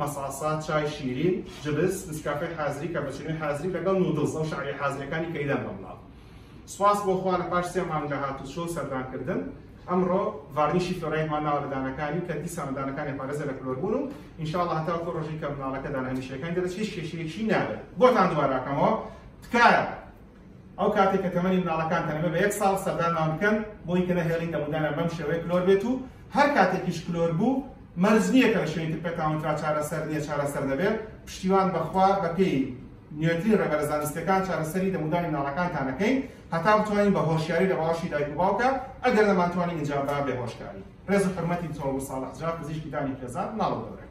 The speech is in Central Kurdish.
مەساسە، چای شیرین، جبس، نسکافەی حازری، کاپچینۆی حازری لەگەڵ نودڵز ئەو شعری حازریەکانی کەیلان بە ملاڵ. سوپاس بۆ خوا لە پاش سێ مانگە هاتوچۆ و سەردان کردن ئەمڕۆ ڤارنیشی فلۆرایدمان ناوە لە دانەکانی کە دیسانە دانەکانی پارێزە لە کلۆر بوون و ان شاء اللە هەتاوەکو ڕۆژی کە مناڵەکە دانە هەمیشەیەکانی دەرەچێت هیچ کێشەیەکی نابێت بۆتان دوبارە ئەکەمەوە تکایە ئەو کاتێک کە تەمەنی مناڵەکان تەنەبێ بە یەک ساڵ سەردانمان بکەن بۆی کە نەهێڵی تەمودانە بەم شێوەیە کلۆر بێت و هەر کاتێکیش کلۆر بوو مەرز نییە کە لە شوێنی تر پێتاونترا چارەسەر نییە چارەسەر دەبێت پشتیوان بەخوا بەپێی نوێترین ڕێبەرە زانستەکان چارەسەری دەمودانی ناڵەکانتانەکەین هەتا بتوانین بە هۆشیاری لە باوەشی دایک و باوکە ئەگەر نەمانتوانین ئینجا با بێ هۆشکاری ڕێز و حرمەتی چۆڵ و ساڵح جا پزیشکی دانی خێزان ناڵ دەبرێت